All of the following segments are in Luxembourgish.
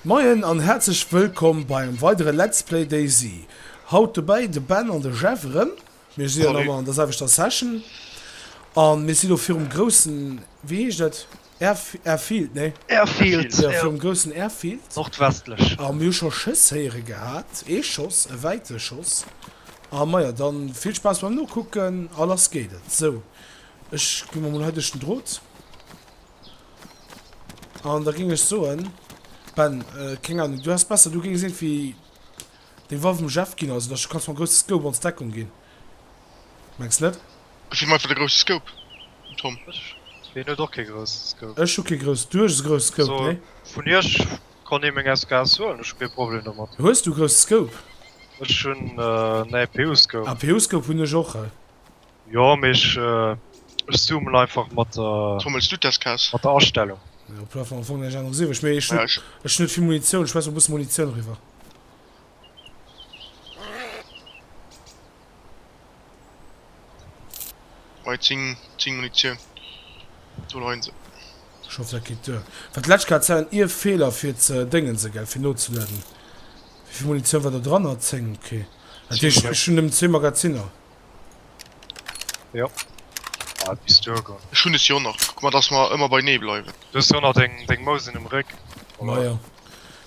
Moien an häerzlech wëllkomm bei engem weidere Let's Play DayZ. Haut dobäi de Ben an de Jeff erëm. Mir si elo erëm an der selwechter Session an mir si elo virum groussen, wéi heescht dat? Airfield, nee. Airfield, jo. Virum groussen Airfield. Nordwestlech. A mir hu scho Schëss héiere gehat. Ee Schoss, e wäite Schoss. A majo, dann vill Spaass beim Nokucken a lass geet et. Sou, ech gi mol mol hei duerch den Drot. An da géing ech soen, Ben, keng Ahnung, du häss besser, du géings iergendwéi deng Waff dem Jeff ginn, also dass du kanns mam grousse Scope ons Deckung ginn. Mengs net? Ech hun einfach de grousse Scope, Tom. Ech hun och kee grousse Scope. Ech hu kee grousse. Du hues e grousse Scope, nee? Also vun iech konnt ee meng SKS huelen, ech hu kee Problem domat. Hues du grousse Scope? Ech hun en APU Scope. APU Scope hun ech och. Jo, mee ech zoomen einfach mat der. Tom, huels du d'SKS? Mat der Astellung. Am Plafond am Fong, ech awer sou ewech, mee ech hu net vill Munitioun, schmeiss mol e bësse Munitioun eriwwer. Hei 10 10 Munitioun do leien se. Scho fir Kit duer. Wat d'lescht Kéier Zellen Iew Feeler fir ze Déngense gell? Fir nozelueden. Wéivill Munitioun war do dran? Ah 10, ok. Dat heescht ech hunn nëmmen zwee Magaziner. Jo. Ah, et misst duer goen. Ech hunn es jo nach. Kuck mal, dass mer ëmmer beinee bleiwen. Du hues jo nach deng, deng Mousen um Réck, oder? Majo.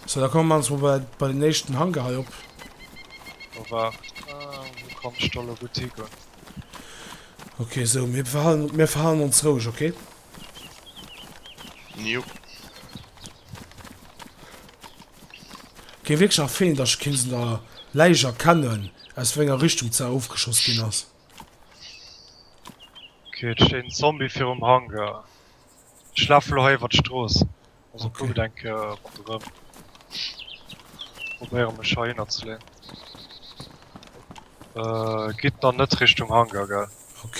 Sou, da komme mer mol bei, bei den éischten Hangar hei op. Oh, waart. Ah, wou kann ech da elo gutt higoen? Ok, sou, mir behalen, mir verhalen ons roueg, ok? Njup. Gin wierklech erfeent dass kins un der Läich erkennen aus wenger Richtung ze oofgeschoss gin ass. Ok et steet en Zombie virum Hangar. Ech laafen elo hei iwwert d'Strooss. Also kuckt eng Kéier ronderëm. Probéieren mech hei hinner ze leeën. Gitt dann net Richtung Hangar gell. Ok.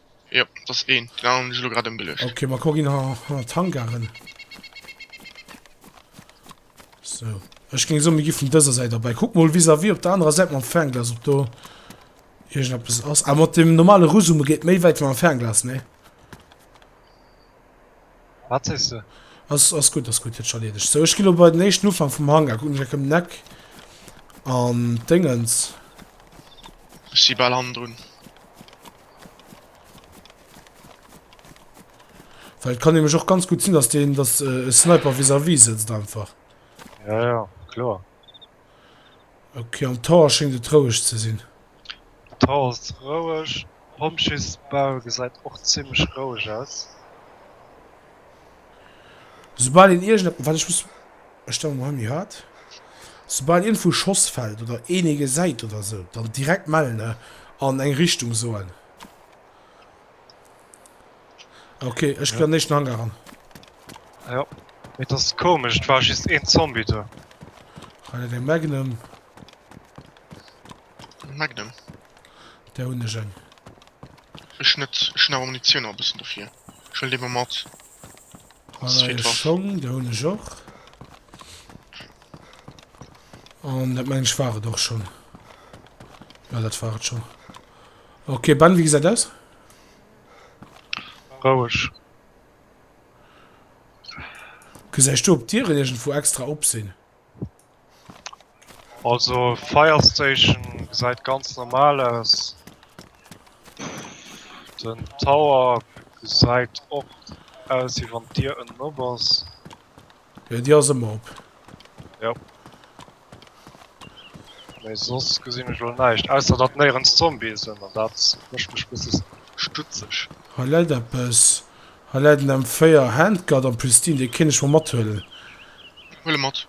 Jo, dat ass een. Den aneren hunn ech elo grad ëmgeluecht. Okay, ma kuck een hanner d'Hangaren. Sou. Ech géing soen, mir gi vun dëser Säit erbäi. Kuck mol vis-à-vis op der anerer Säit mam Fernglas, ob do iergendeppes ass. Ah, mat dem normale Rusume geet méi wäit wéi mam Fernglas, nee? Wat sees de? Ass, ass gutt, ass gutt. Huet sech erliedegt. Sou, ech gi lo bei den éischten Ufank vum Hangar. Kucken ech eng Kéier ëm den Eck. An d'Déngens. Ech si bal hannendrun. Well et kann nämlech och ganz gutt sinn, dass deen dass e Sniper vis-à-vis sëtzt einfach. Ja, ja, kloer. Okay, am Tower schéngt et roueg ze sinn. Tower ass roueg. Pompjeesbau gesäit och zimmlech roueg aus. Esoubal een iergend. Wat ech muss. Ech stellen mer hei méi haart. Soubal iergendwou e Schoss fällt oder een ee gesäit oder esou, dann direkt mellen an eng Richtung soen. Ok, ech ginn an den éischten Hangar ran. Jo, et ass komesch, et war just een Zombie do. Hei läit eng Magnum. Magnum? Där hunn ech eng. Ech net, ech hunn awer Munitioun nach e bëssen dofir. Ech huelen déi mol mat. Voilà, e Schong, dee hunn ech och. An dat mengen ech war et och schonn. Ja, dat war et schonn. Okay, Ben, wéi gesäit aus? Roueg. Gesäis du, ob d'Dieren iergendwou extra op sinn? Also Fire Station gesäit ganz normal aus. Den Tower gesäit och aus wéi wann d'Dier ënnen op ass. Jo, déi ass ëmmer op. Jo. Mee soss gesinn ech elo näischt, ausser datt néierens Zombie sinn an dat mécht mech bësse stutzeg. Hei läit eppes. Hei läit en M4 Handguard am Pristin, dee kéint ech mol mathuelen. Huel e mat.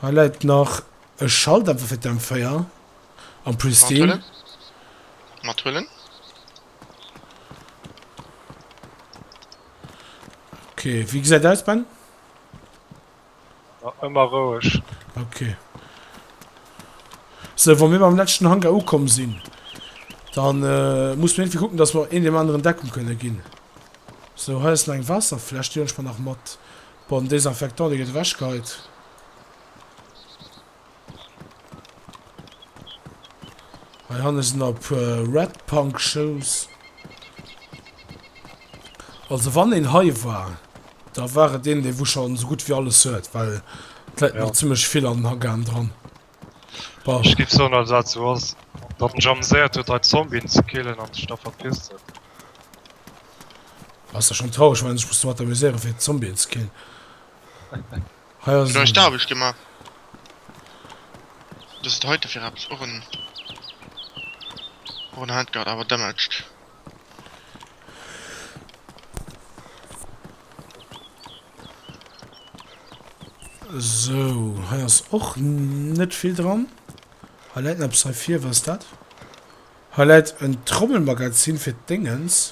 Hei läit nach e Schalldämper fir d'M4 am Pristine. Mat huelen. Ok, wéi gesäit aus Ben? Ëmmer roueg. Ok. Sou, wa mir beim leschten Hangar ukomm sinn, da musse mir iergendwéi kucken, datt mer een deem aneren Deckung kënne ginn. Sou, hei ass nach eng Waasserfläsch, déi huelen ech mer nach mat. Bon, den Desinfectant, dee gëtt ewechgeheit. Hei hanne sinn op Red Punk Shoes. Also wann een hei war, da war et een, dee wou schonn esou gutt wéi alles huet, well d'Leit nach zimmlech vill an den Haggaen dran. Ech giff soen als azo ass datt en sech ameséiert huet hei Zombien ze killen an sech da verpisst huet. Ass jo schon traureg, menn ech muss domat amuséieren fir Zombien ze killen. Hei ass en. D'Aarbecht gemaach. Dëst heite fir eppes? Och en Handguard awer damaged. Sou, hei ass och net vill dran. Hei läit nach eppes hei vir, wat ass dat? Hei läit en Trommelmagazin fir d'Déngens.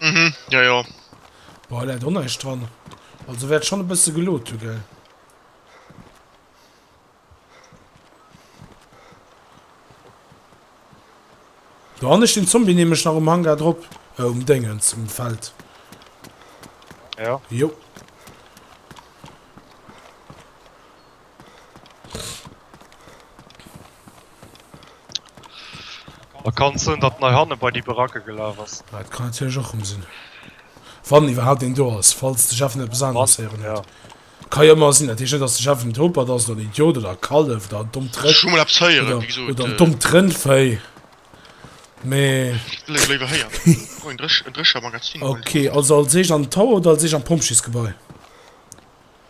Mhm, ja, ja. Boah, läit och näischt dran. Also wäert schon e bësse geload hu, gell? Do han ech den Zombie nämlech nach um Hangar drop. Äh, um Déngens, um Feld. Ja. Jo. Da kann et sinn, datt en hei hanne bei déi Baracke gelaf ass. Ah, dat kann natierlech och rëm sinn. Wann iwwerhaapt een do ass, falls de Jeff net eppes aneres héieren huet. Ka jo ëmmer sinn. Dat heescht net, datt de Jeff en Topert ass oder en Idiot oder e Kallef oder en dommt Rëck. Ech hu mol eppes héieren, wéi gesot. Oder en dommt Rëndvéi. Mee. Wëll ech léiwer héieren. Oh, en Dréchermagazin. Ok, also als éischt an den Tower oder als éischt an d'Pompjeesgebai?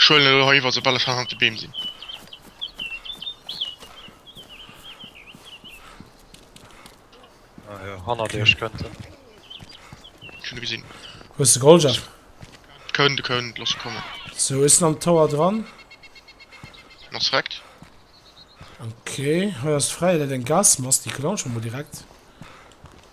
Ech huelen elo hei iwwer soubal ech hannert de Beem sinn. Ajo hannert iech kënnt en. Ech hunn e gesinn. Wou ass de Goldjeff? Kënnt e kënnt, looss e kommen. Sou e sinn am Tower dran. En ass rekt. Ok hei ass fräi, dat eng Gas, mass déi kënnt och scho mol direkt.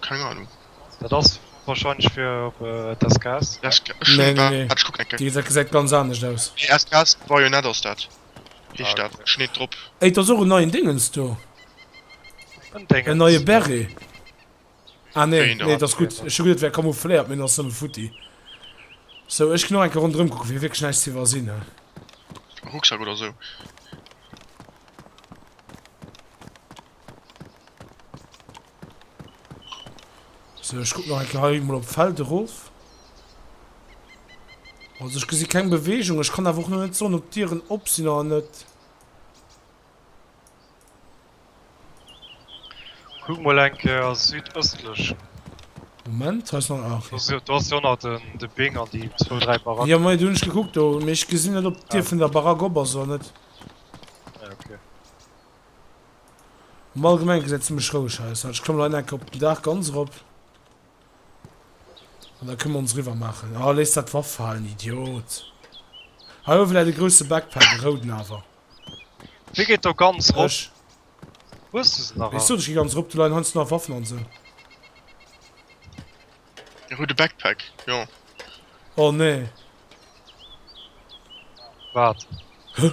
Keng Ahnung. Dat ass wahrscheinlech fir op d'SKS. Nee, nee, nee. Déi gesäit ganz anescht aus. Nee, SKS Bayonet ass dat. Heescht dat. Ech hunn et drop. Ey, et ass och en neien Déngens do. En Déngens? En neie Beret. Ah, nee, nee, et ass gutt. Ech hu geduet, et wär camoufléiert, mee en ass nëmme futti. Sou, ech ginn och eng Kéier ronderëm kucken, fir wierklech näischt ze iwwersinn, he. Rucksak oder sou. So, ich guck noch ein Kei mal op Feld erof. Also ich gesi keng Bewegung, ich kann awer och net so op Dieren op sinn an net. Kuck mal eng Kéier südëstlech. Moment, hei ass nach ah, okay. Du hast jo nach den, de Bing an déi zwou, dräi Baracken. Ja, mei, du hunn ech gekuckt do, mee ech gesinn net, ob d'Dier ah. vun der Barack op ass oder net. Ja, okay. Am allgemengen gesäit et zimlech roueg aus. Warte, ech klammen hei enker op den Daach ganz erop an da kënne mer ons eriwwer maachen. Oh, léiss dat d'Waff falen, Idiot! Hei uewe läit e grousse Backpack, e rouden awer. Wie geet do ganz erop? Ech. Hues de se nach all? Ech sot, ech gi ganz erop, do leien heiansdo nach Waffen an esou. E roude Backpack, jo. Oh, nee. Wat? Huh?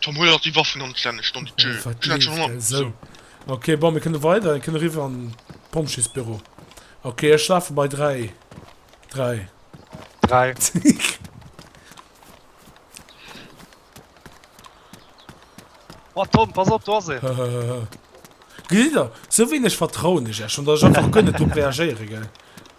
Tom huel nach déi Waffen an d'Lännecht, dann déi d'Jeu. Ech hat schon Honger. Esou. Ok, bon, mir kënne weider, mir kënne riwwer an d'Pompjeesbüro. Ok, ech lafe bei 3. 3. 3. Oh Tom, pass op, do ass ee. Gesitt der, esou wéineg vertrauen ech iech schon, datt ech einfach guer net drop reagéiere, gell?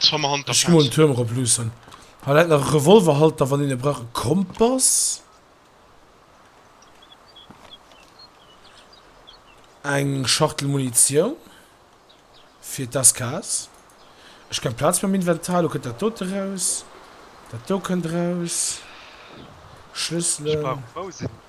D'Fammer Hand der Ech gi mol den Paus. Tuerm erop luussen. Hei läit nach e Revolverhalter, wann een e brauch. E Kompass. Eng Schachtel Munitioun fir d'SKS. Ech keng Plaz méi am Inventar. Elo kënnt dat dote eraus. Dat do kënnt eraus. Ech Schlësselen. brauch en Bousen.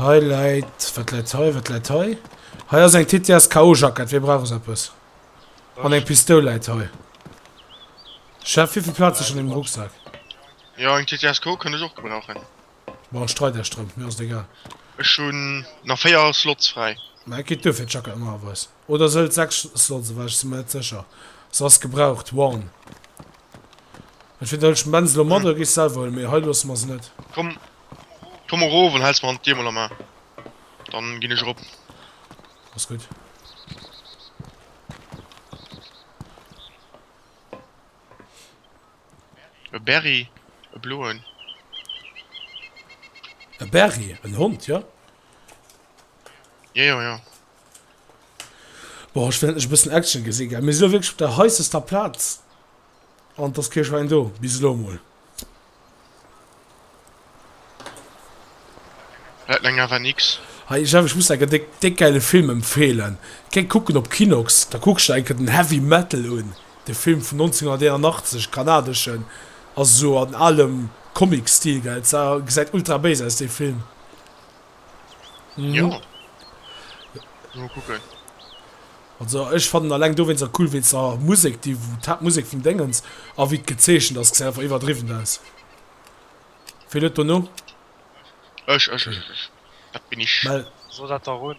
Hei läit, wat läit hei, wat läit hei? Hei ass eng TTSKO-Jackett, wee brauch esou eppes? An eng Pistoul läit hei. Chef, wéivill Plaz hues du an deem Rucksak? Jo, eng TTSKO kënnt ech och gebrauchen. Bon, ech treit iech drëm, mir ass et egal. Ech hunn nach 4 Slots fräi. Mä et geet duer fir d'Jackett normalerweis. Oder se hëlt 6 Slots ewech, ech si mer net sécher. Se ass gebraucht, worn. Entweder hëlt ech d'Benz elo mat oder gees se selwer huelen, mee hei loosse mer se net. Komm, Komm erof an hells mer an d'Dier mol a Maa. Dann gin ech erop. Ass gudd. E Berry, e bloen. E Berry, en Hond, jo. Jejo, jo. Boah, ech well endlech e bëssen Action gesi gell. Mir si jo wierklech op der heissester Plaz. An et ass kee Schwäin do, bis elo emol. Läit meng awer nix. Hey Jeff, ech muss der enke déck gäile Film empfehlen. Kéng kucken op Kinox, da kucksch der enke den Heavy Metal un, de Film vun 1981, kanadeschen, ass esou an alem Comic Stil, gell, gesäit ultra béis aus dee Film. Mhm. Ja. Mal gucken. Also ech fanden alleng do wéinst der cool wéinst der Musek déi d'Haaptmusek vum Déngens a wéi d'gezeechent ass gesäit einfach iwwerdriwwen aus. Ween huet do no? Ech, ech, ech, ech. Dat bin ech. Mell. So dat da run.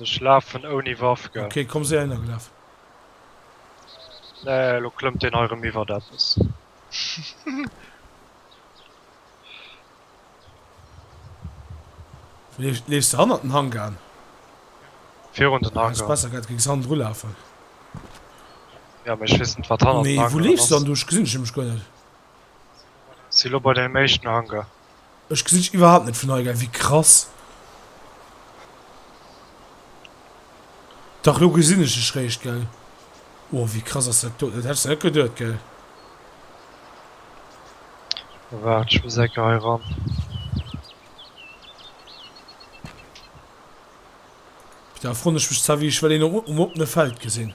Ech lafen ouni Waff gell. Ok komm si heihinner gelaf. Nee elo klëmmt deen hei rem iwwert eppes. Leefs de hannert den Hangan? Virun den Hangar. Besser gett géings hannendru lafen. Ja mee ech wees net wat hannert den Hangar ass. Mee wou leefs de dann du? Ech gesinn dech nämlech guer net. Si lo bei deem éischten Hangar. Ech gesinn dech iwwerhaapt net vun hei, geil, wéi krass. Dach lo gesinn ech dech réischt, geil. Oh wéi krass ass dat do, dat hättest de net geduet, geil. Waart, ech muss enke hei ran. Da erfroen ech mech zwar wéi ech well een um oppene Feld gesinn.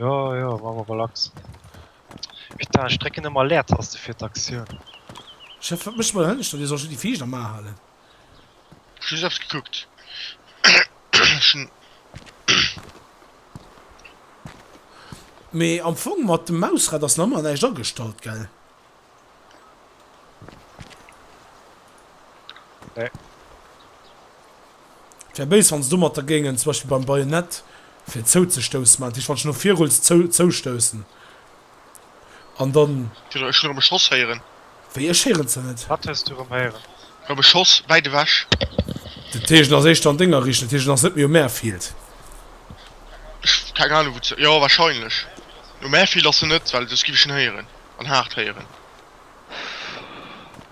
Jo jo, maa mer relax. Putain ech drécken ëmmer Leertaste fir d'Aktioun. Chef, wat mécht mer der hënneschter? Dir sollt jo déi Viischt am A halen. Ech hu just gekuckt. Mee am Fong mat dem Mausrad ass nach ëmmer näischt agestallt, gell? Nee. Wär béis wanns du mat der géingen zum Beispill beim Bajonett fir zouzestoussen man dech wann no vir rulls zou zoustoussen an dann ech rem beschoss héieren wéi ech héieren ze net wat hues du rem héieren rem beschoss wäit ewech de teegen ass éischter an denger riicht de teegen ass net méi um airfield ech keng ahnung wou ze jo wahrscheinlech um airfield ass se net well soss giff ech en héieren. an haart héieren.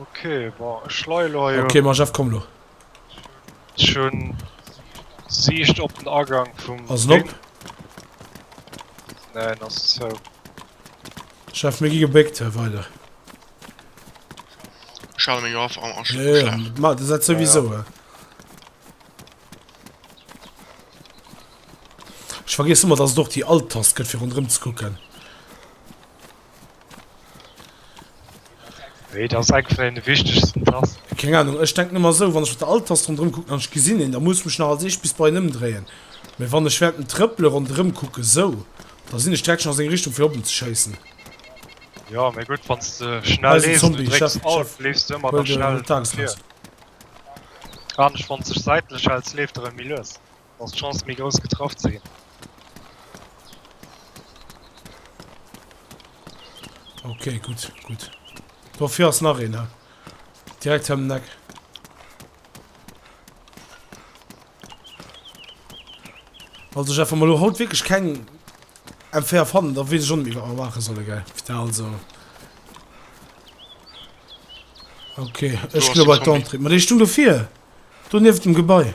Ok bon ech leie lo hei. Ok mon Jeff komm lo. Ech hun Siicht op den Agang vum Ding. Ass en op? Neen ass zou. Jeff mir gi gebéckt hei weider. Ech hale meng Waff am Uschlag. Jo ma dat souwisou hein. Ech vergiess ëmmer dass et och déi Alt Tast gëtt fir ronderëm ze kucken. Wéi et ass eng vun den wichtegsten Tasten. Keng Ahnung, ech denken ëmmer esou, wann ech op der Alt-Tast rondrëm kucken an ech gesinn een, da muss ech mech nach als eescht bis bei en ëmdréien, mä wann ech während dem Trëppele ronderëm kucken, sou, da sinn ech direkt schon a seng Richtung fir op en ze schéissen. Jo, mä gutt, wann s de schnell leefs an du drécks Alt, leefs de ëmmer nach schnell viru. Anescht, wann s de sech säitlech häls, leeft de rëm méi lues. Da ass d'Chance méi grouss getraff ze ginn. Ok gutt gutt. Do vir ass nach een ha. Direkt hëm Neck. Also Jeff mal lo haut wirklich keng MFR fannen, da wees schon iwwer erwache solle ge also. Okay, Ech glo bei d'Antrieb. Ma déi stung dofir. Du nieft dem Gebai.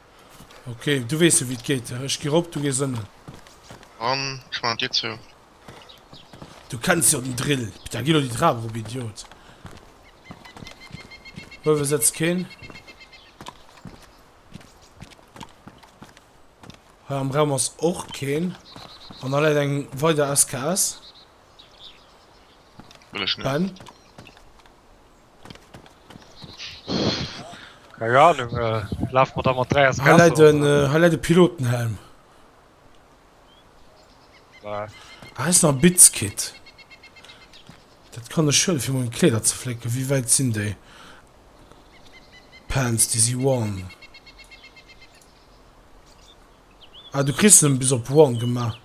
Okay, du weess jo wéi et geet. Ech gi rop, du gees ënnen. An ech man d'Dier zou. Du kenns jo den Drill. Da gi lo déi Trap erop, Idiot. Uewe sëtzt keen. Hei am Raum ass och keen. An da läit eng weider SKS. Wëll ech net. Ben. Ja, nun äh, lauf mal da mal drei aus Hei läit en, äh, hei läit e Pilotenhelm. Nein. Ah, ist nach ein Bits-Kit. Das kann ich schön, für meine Kleider zu flicken. Wie weit sind die? Pants, die sind One. Ah, du kriegst ihn bis auf One gemacht.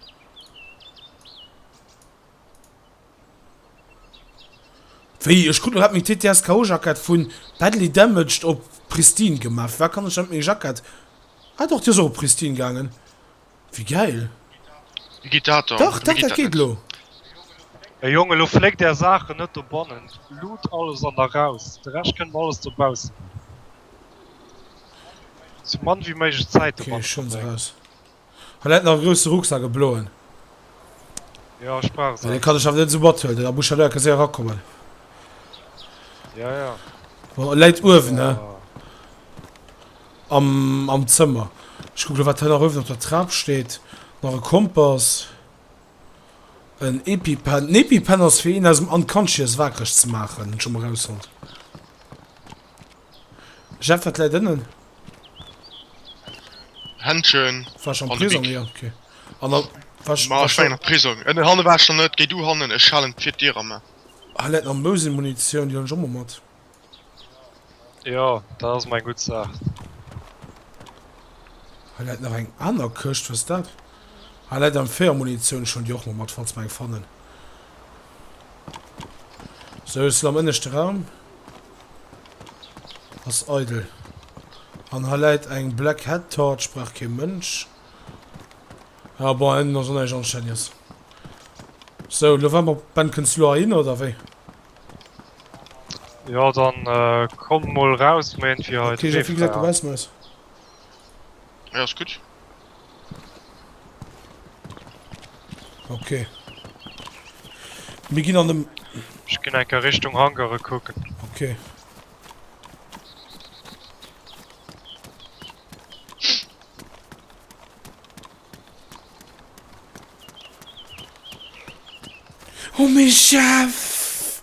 Wéi ech krut hat meng TTSKO Jackett vun Badly Damaged op Pristine gemaat. Fir wat kann ech dann meng Jackett ah doch déi ass och op Pristine gaangen wéi gäil. Dach dach dat geet lo. Mee Jong elo fléckt är Saachen net dobannen, luut alles an da raus, de Rescht kënnt mer alles dobaussen maachen. Sou mann wéi méiglech Zäit dobannen verbréngen. Hat dat nach e grousse Rucksack, e bloen? Jo, ech brauch se. Dee kann ech awer net esou mathuelen, den Ambuscadeur ka séier erakommen. Ja, ja. Bon, e läit uewen, ne? Am, am Zëmmer. Ech kucke lo, wat hei nach uewen op der Trap steet. Nach e Kompass. En Epi-Pen. En Epi-Pen ass fir een aus dem Unconscious wakereg ze maachen, hunn ech scho mol erausfonnt. Jeff, wat läit ënnen? Händschen an de Bic. Ma ech war nach Prisong. Ënnen, hannen war ech nach net. Géi du hannen, ech halen d'Fir d'Dier am A. Hei läit nach Mosin-Munitioun, déi hun ech och mol mat. Jo, dat ass mol eng gutt Saach. Hei läit nach eng aner Këscht, wat ass dat? Hei läit am Féier Munitioun, ech huelen déi och mol mat, falls mer eng fannen. Sou, ech sinn am ënneschte Raum. Ass eidel. An hei läit eng Black Hat Torch, brauch kee Mënsch. Ah bon, en ass onneierlech Ingenieurs. Sou, elo waarde mer op Ben, kënns de elo heihinner oder wéi? Jo, dann komm mol raus, mer hunn fir hei d'Wee fräi. Ech gi direkt dobaussen aus. Jo, ass gutt. Okay. Mir ginn an dem... Ech ginn enker Richtung Hangare kucken. Okay. Oh, méi Chef!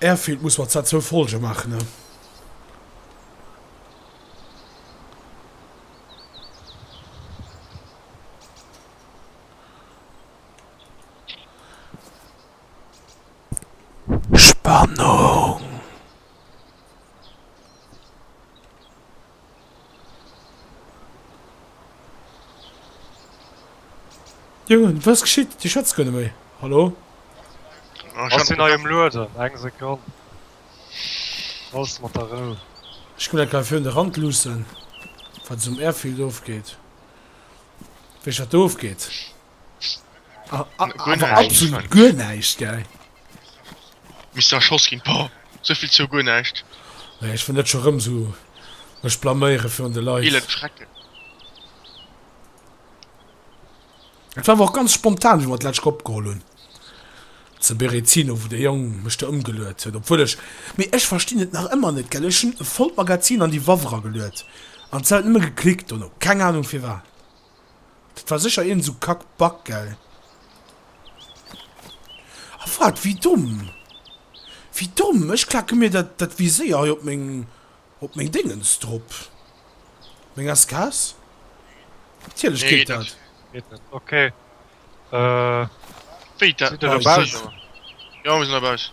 Airfield muss mat zwar zwou Folge maachen ne. Spannung. Jongen, was geschitt? Dir schwätzt guer net méi. Hallo? Ech sinn hei um lueden, eng Sekonn. Looss mat a Rou. Ech ginn mol enker fir un de Rand luussen, wat esou um Airfield ofgeet. Wéi ech dat do ofgeet. Ah, ah, Gu aber näischt. absolut guer näischt, gell? Misst du erschoss ginn, boah, souvill zou guer näischt. Nee, ech wëll net scho rëm sou mech blaméiere virun de Leit. Eelend Schrecken. Et war awer och ganz spontan, wéi mer dat Letzt opgeholl hunn. Zu Berezino, wou dee Jong mech do ëmgeluet huet, obwuel ech, mee ech verstinn et nach ëmmer net, gell, ech hunn e vollt Magazin an déi Waff erageluet an d'Zelt nëmme geklickt dono, keng Anung firwat. Dat war sécher iergend esou kack Bug, gell? A wat? Wéi domm! Wéi domm! Ech klake mir dat dat Viséier hei op meng op meng Déngens drop. Meng SKS? Natierlech geet dat! Geet net, ok. Wéi, dat? Sidd der dobauss? Jo, mir sinn dobauss.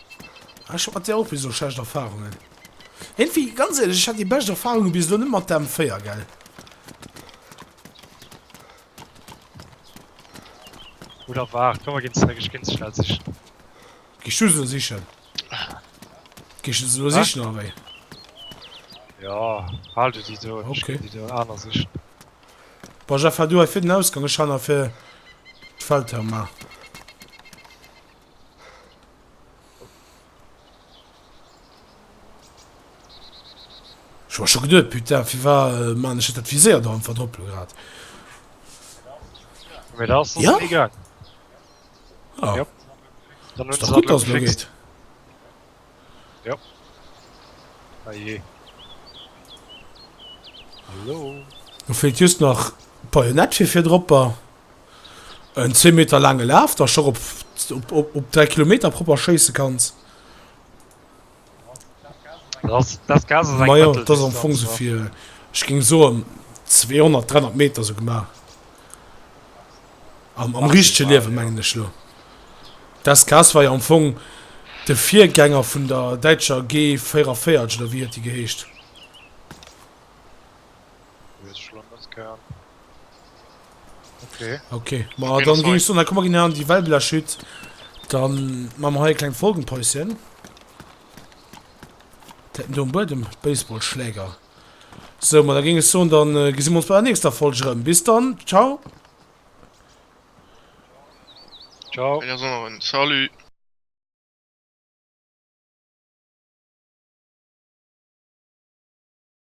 Ah, ech hat mat där och bis elo schlecht Erfahrungen. Éntwéi, ganz éierlech, ech hat déi bescht Erfahrungen bis elo net mat der M4, gell? Oder waart, komm mer ginn zeréck, ech géing se schnell sichen. Géichs du se elo sichen? Géichs du se elo Hä? sichen, oder wéi? Jo, hal du déi do an ech Okay. ginn déi do aner sichen. Bon, Jeff, hal du hei vir den Ausgang, ech han hei vir d'Feldherr, mar. Ech war scho geduet, putain, firwar man ech dat Viséier do einfach drop grad? Mir da ass ja? egal. Ah. Ja. Dann ist doch gut, dass mir geht. Ja. Ah je. Hallo. Du fehlt just nach Bajonett für vier Dropper. En 10 Meter laange Laf, dass scho op 3 Kilometer propper schéisse kanns. Ma jo, dat ass am Fong sou fir, ech géing soen, 200, 300 Meter sou gemaach. Am richtege Liewen, mengen ech elo. D'SKS war jo am Fong de Virgänger vun der däitscher G 44, oder wéi huet déi geheescht? Okay, ma dann geh ich so, dann komm mal geh an die Wellbiller Schütt, dann machen wir hier ein kleines Folgenpäuschen. Der hat den Boden, Baseballschläger. So, ma dann ging ich so, dann äh, gesehen wir uns bei der nächsten Folge rum. Bis dann, ciao. Ciao. Salut.